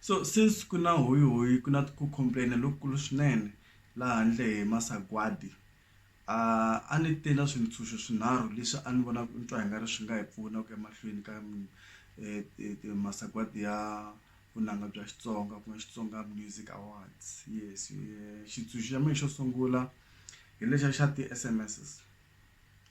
So since ku na huyihuyi ku na ku complain-a lokukulu swinene laha handle hi masagwadi a ni te na swintshuxo swinharhu leswi a ni vona ni twa i nga ri swi nga hi pfuna ku ya mahlweni ka masagwadi ya vunanga bya Xitsonga ku nga Xitsonga Music Awards yes xitshunxo xa mehe xo sungula hi lexiya xa ti-S_M_S.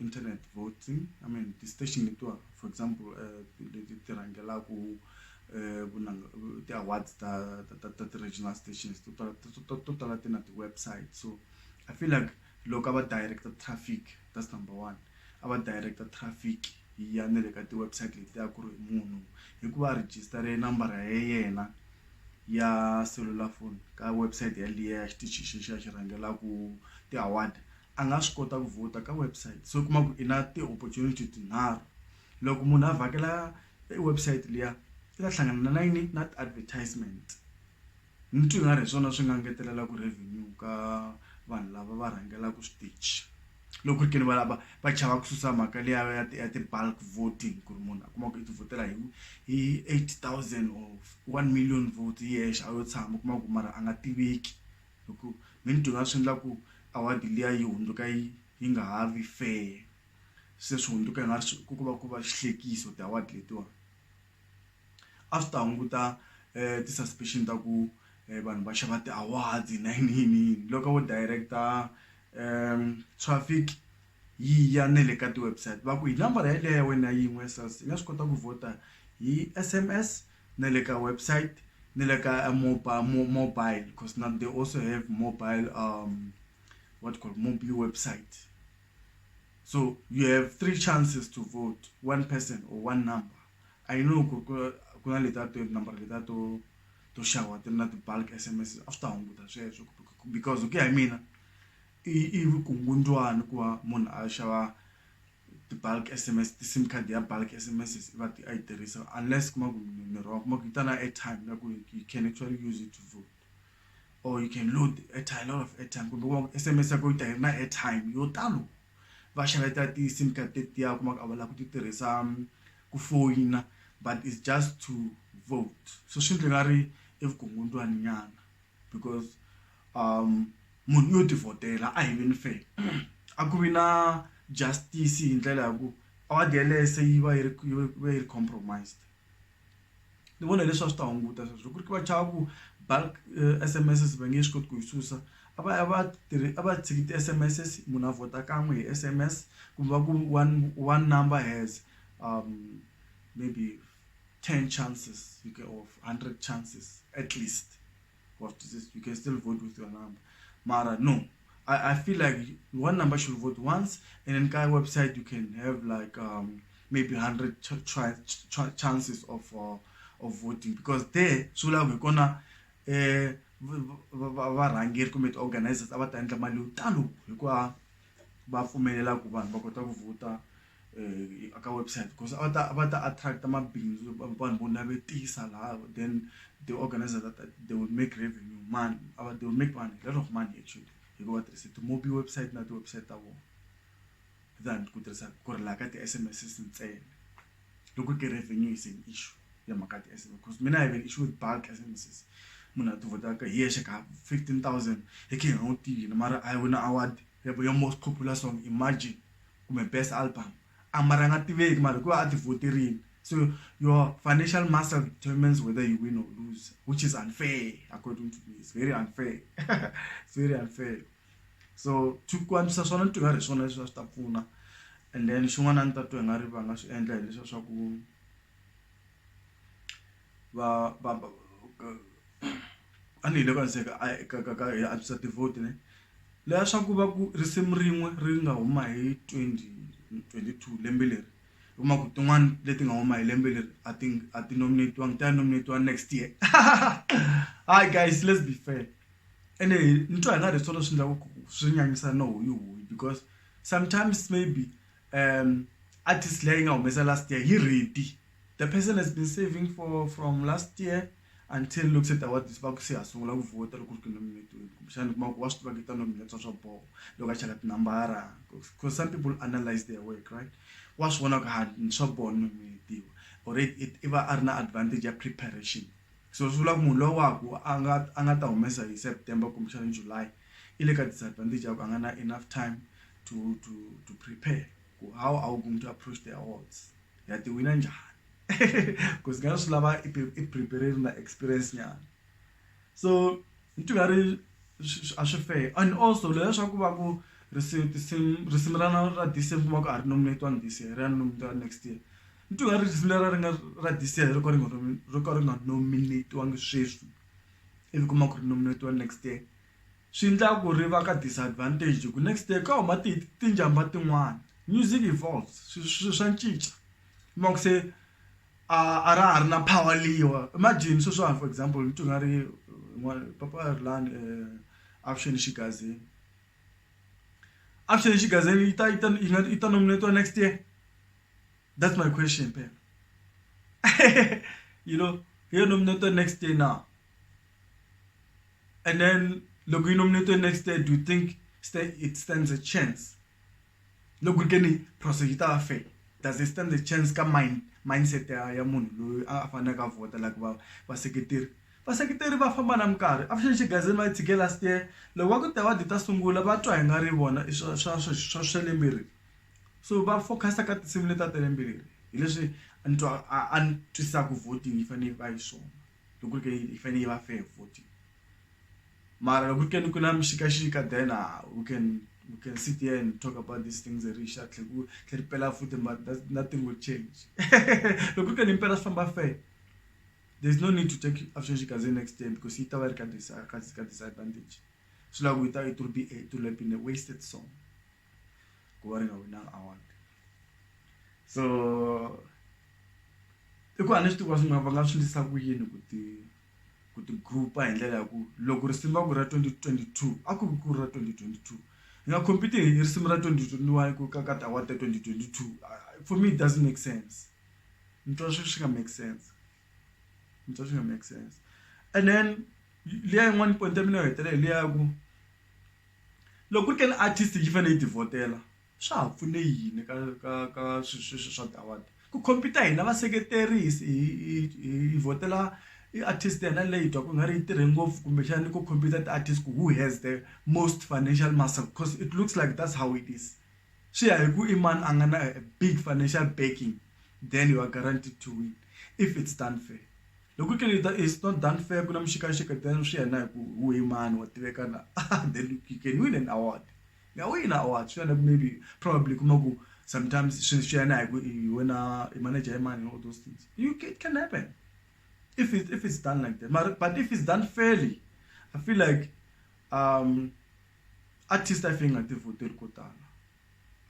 internet voting i mean ti-station letiwa for example um leti ti rhangelaka ti-awards ta ta ta ta ti-regional stations to tala to to to tala ti na ti-website so i feel like loko a va direct traffic that's number one a va direct traffic yi ya na le ka ti-website letiya ku ri munhu hi ku va a register-e nambara ya yena ya selulafoni ka website yaliya ya xitichi xi xa xi rhangelaka ti-award. a nga swi kota ku vhota ka website so u kuma ku i na ti-opportunity tinharhu loko munhu a vhakela e website liya i ta hlangana na yini na ti-advertisement ni twi nga ri hi swona swi nga ngetelelaku revenue ka vanhu lava va rhangelaka switichi loko ku ri ke ni valava va chava ku susa mhaka liya ya ti ya ti-bulk voting ku ri munhu a kuma ku i ti vhotela hi hi eight thousand or one million vote hi yexe a yo tshama u kuma ku mara a nga tiveki hi ku me ni dyondza swi endla ku award liya yi hundzuka yi yi nga ha vi fair se swi hundzuka i nga ri ku va ku va xihlekisa ti-award letiwani a swi ta hunguta ti-suspicion ta ku vanhu va xava ti-awards na yini yini yini loko vo director traffic yi ya na le ka ti-website va ku hi nambara yeleyo ya wena yin'we ya SARS yi nga swi kota ku vhota hi S_M_S. na le ka website ni le ka mobile mobile because now they also have mobile um what called mobile website so you have three chances to vote one person or one number i know kuna leta to number leta to to shawa ti na ti-bulk s m s after hunguta sweswo because ku ya hi mina i i vukungundwani ku va munhu a xava ti-bulk S_M_S ti-sim card ya bulk S_M_S i va i yi tirhisa unless u kuma ku ni wrong u kuma ku yi ta na airtime na ku you can actually use it to vote or you can load airtime lot of airtime kumbe u kuma ku S_M_S ya kona yi ta yi ri na airtime yo talo va xaveta ti-sim card tetiya u kuma ku a va lava ku ti tirhisa ku foyina but is just to vote so swi endla i nga ri i vukungundzwani nyana. because um munhu yo tivhotela a hi veni fair a ku vi na justice hi ndlela ya ku award yalese yi va yi ri yi va yi ri compromised ni vona leswi a swi ta hunguta sweswo loko ri ki va chava ku bulk S_M_S va nge swi koti ku yi susa a va a va tirhi a va tshiki ti-S_M_S munhu a vhota kan'we hi S_M_S kumbe va ku one one number has maybe. 10 chances you can of 100 chances at least of this you can still vote with your number mara no I, I feel like one number should vote once and then guy website you can have like um maybe 100 ch ch ch chances of uh, of voting because there sula we're gonna eh varhangeri kumbe ti-organizers a va ta endla mali yo talo hikuva va pfumelela ku vanhu va kota ku vhota ka website coz a va ta va ta attract mabindzu vanhu vo navetisa laha then the organiser that they will make revenue mani a va they will make vanhu lot of money actually hi ku va tirhisa ti-mobi website na ti-website ta vona than ku tirhisa ku ri laha ka ti-S_M_S ntsena loko ku ri revenue is an issue ya mhaka ya ti-S_M_S coz mina I have an issue with bulk S_M_S munhu a ti vhotaka hi yexe ka fifteen thousand hi khe hi nga n'wi tivi hina mara a wina award ya most popular song imagine. kumbe best album a mara a nga tiveki mara hikuva a ti voterile so your financial muscle determines whether you win or lose which is unfair according to me it's very unfair it's very unfair so to ku antswisa swona ni twi nga ri hi swona leswi a swi ta pfuna and then xin'wana a ni ta twa hi nga ri va nga swi endla hileswiya swa ku va va a ni hi le ka se ka ka ka ka hi antswisa ti-vote ne leya swa ku va ku risimu rin'we ri nga huma hi twenty twenty two lembe leri u kuma ku tin'wani leti nga huma hi lembe leri a ti a ti nominate-iwangi ta ya nominate-iwa next year hi guys let's be fair ene ni twa hi nga ri hi swona swi endlaku ku swi nyanyisa no huyi huyi because sometimes maybe um artist leyi nga humesa last year hi Riti the person has been saving for from last year until loko se ta wa this va ku se ha sungula ku vhota loko ri ku nominate-iwini kumbexana kuma ku wa swi tiva ku yi ta nominate-wa swa boho loko a cheka tinambara because some people analyze their work right wa swi vona ku ha swa boho ni nominate-iwa already i va a ri na advantage ya preparation so swi vula ku munhu lowaku a nga a nga ta humesa hi September kumbexana July ile ka disadvantage ya ku a nga na enough time to to to prepare ku how are we going to approach the awards ya ti wina njhani because nga swi lava i prepare na experience nyana so ni twi nga ri a swi fair and also leswa ku va ku risimu tinsimu risimu ra na ra this year kuma ku a ri nominate-wanga this year ri ya nominate-wa next year ni twi nga ri risimu lera ri nga ra this year ri ka ri nga ri ka ri nga nominate-wangi sweswi. ivi kuma ku ri nominate-iwa next year swi endla ku ri va ka disadvantage hi ku next year ka huma ti tinjhamba tin'wana music evolves swilo swilo swa cinca kuma ku se a a ra ha ri na power leyiwa imagine sweswiwani for example ni twa nga ri papa a ri lani avuxeni xigazini avuxeni xigazini yi ta yi ta yi nga yi ta nominate-iwa next year That's my question, Pep. you know, you're nominated next day now. And then, look, you're nominated next day. Do you think it stands a chance? Look, we can prosecute our faith. Does it stand a chance? Come mind, mindset ya ya munhu loyi a faneleke a vhota like va vaseketeri vaseketeri va famba na minkarhi a fixi xigazini va yi tshike last year loko va ku ta va dita sungula va twa hi nga ri vona swa swa swa swa le mirini so va focus ka tinsimu leti a ti ri yimbelela hi leswi a ni twa a a ni twisaka voting yi fanele yi va yi swona loko ke yi fanele yi va fair voting mara loko ke ni ku na mixikaxika then ah, we can we can sit here and talk about these things ri xa tlhe ku tlhe ri pela futhi but that- nothing will change loko ke ni impela swi famba fair there's no need to take action xikaze next year because yi ta va yi ri ka disa- ka ka disadvantage swi lava ku yi ta it will be a, it will have been a wasted song ku va ri nga winanga award so i ku a ni swi tivi ku va swi nga va nga swi endlisa ku yini ku ti ku ti group-a hi ndlela ya ku loko risimu va ku ra twenty twenty two a ku ri ku ri ra twenty twenty two hi nga compete hi risimu ra twenty twenty one ku ka ka ti-award ta twenty twenty two for me it doesn't make sense ni twa swi swi nga make sense. ni twa swi nga make sense and then liya yin'wani point ya mina yo hetelela hi liya ya ku loko ku ri ka ni artist yi fanele yi ti vhotela swa ha pfune yini ka ka ka swilo sweswi swa ti-award ku compete hina vaseketeri hi hi hi hi vhotela i artist yena leyi hi twaku i nga ri yi tirhe ngopfu kumbexani ku compete ti-artist ku who has the most financial muscle cause it looks like that's how it is. swi ya hi ku i mani a nga na big financial backing then you are guaranteed to win if it's done fair loko ke leta is not done fair ku na muxikaxika then swi ya na hi ku wu hi mani wa tiveka na then you can win an award ya wina award swi ya na ku maybe probably kuma ku sometimes swi swi ya na hi ku i wena i manager ya mani all those things you it can happen if it if it's done like that mara but if it's done fairly i feel like um artist a yi fane yi nga ti vhoteli ko tala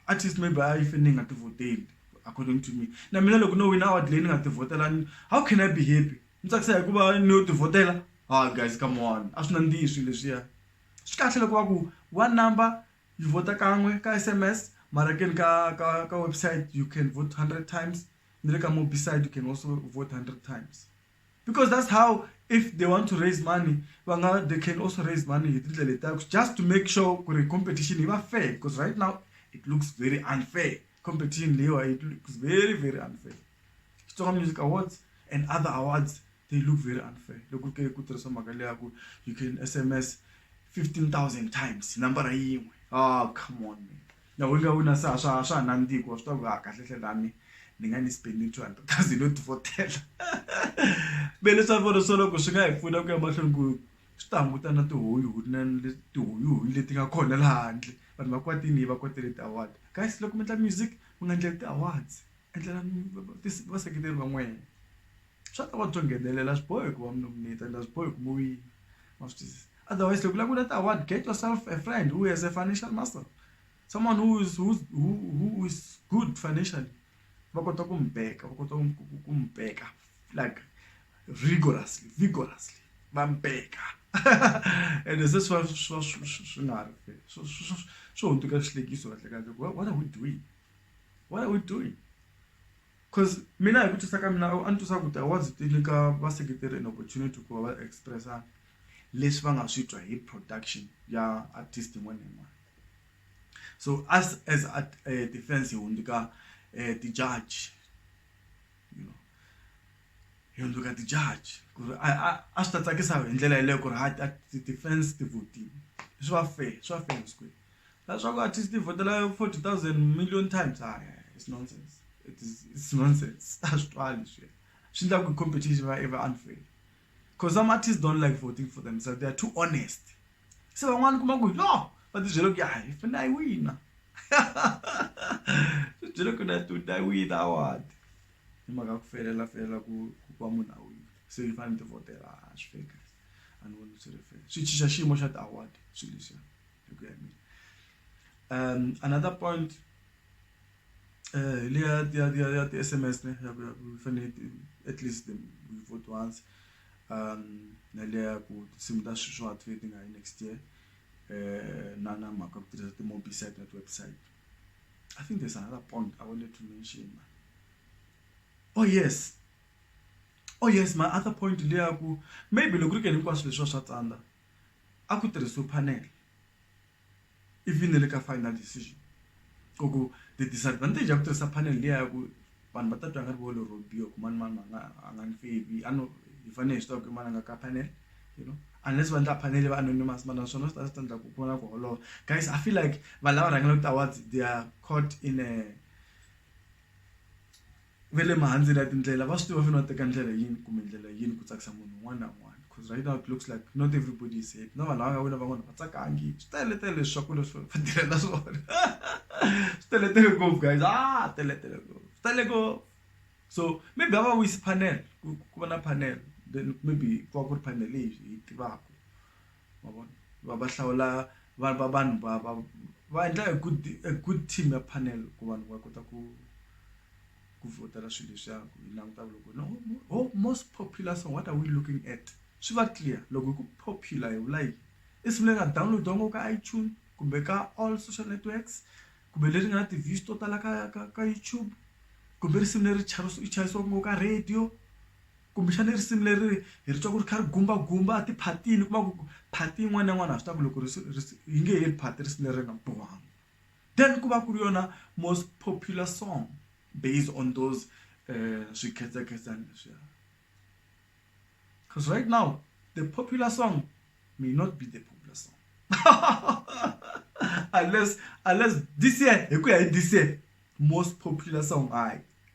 artist maybe a yi fane yi nga ti vhoteli according to me na mina loko no wina award leyi ni nga ti vhotelani how can i be happy ni tsakisa hikuva ni yo ti vhotela ha guys come on a swi nandzihi swilo leswiya swi kahle loko va ku one number yi vhota kan'we ka s m s mara keni ka ka ka website you can vote hundred times ni le ka mobisite you can also vote hundred times. because that's how if they want to raise money va nga they can also raise money hi tindlela letiya just to make sure ku ri competition yi va fair because right now it looks very unfair competition leyiwa it looks very very unfair xitsonga music awards and other awards they look very unfair loko ke ku tirhisa mhaka leya ku you can sms 15000 times nambara yin'we ah come on man. Loko u nga wina se a swa a swa ha nandzihi hikuva swi tiva ku ha kahlekahle na mina ni nga ni spend two hundred thousand yo tivhotela me leswi a ni vona swo loko swi nga hi pfuna ku ya mahlweni ku swi ta hunguta na tihunyi na tihunyi leti nga kona la handle vanhu va kwatile va kwatele ti award guys loko mi endla music mi nga endleli ti awards endlela vaseketeri va n'wina swa ta va byo nghenelela a swi bohi ku va mi nominate and a swi bohi ku mi wina ma swi twisisa. Otherwise, loko u lava ku leta award get yourself a friend who has a financial muscle, someone who is who who is good financially va kota ku n'wi back-a va kota ku n'wi back-a like rigorously vigorously va n'wi back-a ende se swi va swi va swi swi swi nga ri swi swi swi swi hundzuka xihlekiso kahlekahle ku what are we doing what are we doing cause mina hi ku twisisa ka mina a ni twisisa ku ti-awards ti nyika vaseketeri an opportunity ku va va express-a. leswi va nga swi twa hi production ya artist yin'wana na yin'wana so as as a eh, defense hi hundzuka eh, ti-judge you know hi hundzuka ti-judge ku ri a swi ta tsakisa hi ndlela yeleyo ku ri ha ti-defense ti votile swi va fair swi va fair nsikwini leswaku artist ti votela forty thousand million times a it's nonsense it is it's nonsense a swi twali swi swi endlaku competition va i va unfair cause some artists don't like voting for themselves they are too honest se van'wana kuma ku no va tibyele ku ya hi funa yi wina tibyele ku na to die wina award hi mhaka ku felela felela ku ku va munhu a wina se yi fanele ti votela a swi feka a ni voni swi ri fela swi chicha xiyimo xa ti-award swilo leswiya hi ku ya mina um another point leya ya ya ya ti-S_M_S ne ya ku ya ku fane ti at least u yi vote once na liya ya ku tinsimu ta sweswi a ti ve ti nga yi next year na na mhaka ya ku tirhisa ti-movie set na ti-website I think there's another point I wanted to mention oh yes oh yes my other point hi liya ku maybe loko ku ri ke ni hinkwaswo leswiwa swa tsandza a ku tirhisiwe panel. even na le ka final decision ku ku ti disadvantage ya ku tirhisa panel liya ya ku vanhu va ta twa nga ri volo robio ku mani mani a nga a nga ni favi a no hi fanele hi swi tiva ku mani a nga ka panel you know unless va endla panel va anonymous mara naswona swi ta swi endla ku ku na ku holova guys i feel like vanhu lava rhangelaka ti-awards they are caught in a ve le mahandleni ya tindlela va swi tiva fanele va teka ndlela yini kumbe ndlela yini ku tsakisa munhu un'wana na un'wana coz right now it looks like not everybody is happy na vanhu lava nga wina van'wana a va tsakangi swi teletele leswaku leswi va tirhela swona swi teletele ngopfu guys a teletele ngopfu swi tele ngopfu so maybe a va wisi panel ku va na panel then maybe ku va ku ri panel leyi hi yi tivaka ma vona va va hlawula va va vanhu va va va endla a good a good team ya panel ku vanhu va kota ku ku vhotela swilo leswiya ku yi languta loko no ho most popular song what are we looking at swi va clear loko hi ku popular hi vula yini i siku leri nga download-iwa ngopfu ka itunes kumbe ka all social networks kumbe leri nga na ti-views to tala ka ka ka youtube kumbe risimu leri chayisiwaka ngopfu ka radio. kumbexana i risimu leri hi ri twa ku ri kha ri gumbagumba a tiphatini kuma ku phati yin'wana na yin'wana ha swi tiva ku loko yi nge heli phati risimu leri nga bohanga then ku va ku ri yona most popular song based on those swikhedzakhedzani leswiya cause right now the popular song may not be the popular song unless unless this year hi ku ya hi this year most popular song hayi.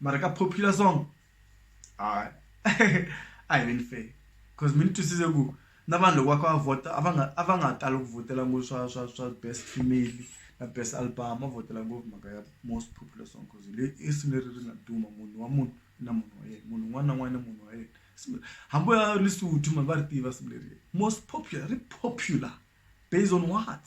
mara ka popular song hayi a hi veni fair because mi ni twisise ku na vanhu loko va kha va vhota a va nga a va nga tali ku vhotela ngopfu swa swa swa best female na best album va vhotela ngopfu mhaka ya most popular song cause hi leyi i risimu leri ri nga duma munhu wa munhu na munhu wa yena munhu un'wana na un'wana na munhu wa yena Risimu leri- hambi u ya lisuthu mani va ri tiva risimu leri most popular ri popular based on what